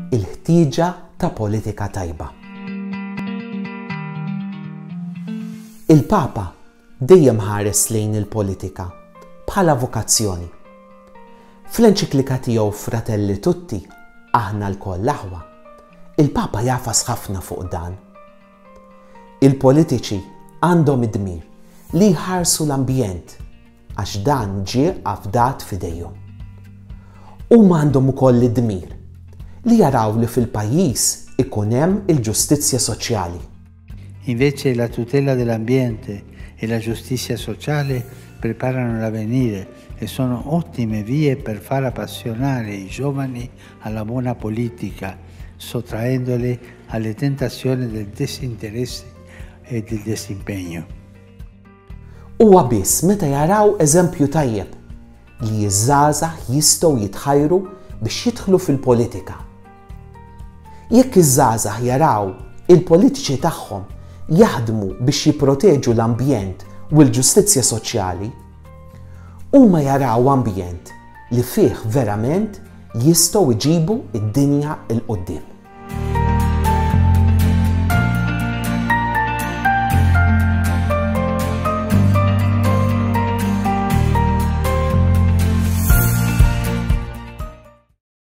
Il-ħtieġa ta' politika tajba. Il-Papa dejjem ħares lejn il-politika bħala vokazzjoni. Fl-enċiklika tiegħu Fratelli Tutti, aħna lkoll aħwa, il-Papa jafas ħafna fuq dan. Il-politiċi għandhom id-dmir li jħarsu l-ambjent għax dan ġie afdat f'idejhom. Huma għandhom ukoll id-dmir li jaraw li fil-pajjiż ikun hemm il-ġustizzja soċjali. Invece la tutela dell'ambiente e la giustizia sociale preparano l'avvenire e sono ottime vie per far appassionare i giovani a la bona politica, sottraendole a le tentazioni del disinteresse e del disimpegno. Huwa biss meta jaraw eżempju tajjeb li ż-żgħażagħ jistgħu jitħajru biex jidħlu fil-politika. Jekk iż-żgħażagħ jaraw il-politiċi tagħhom jaħdmu biex jipproteġu l-ambjent u l-ġustizzja soċjali, Huma jaraw ambjent li fih verament jistgħu jġibu d-dinja 'l quddiem.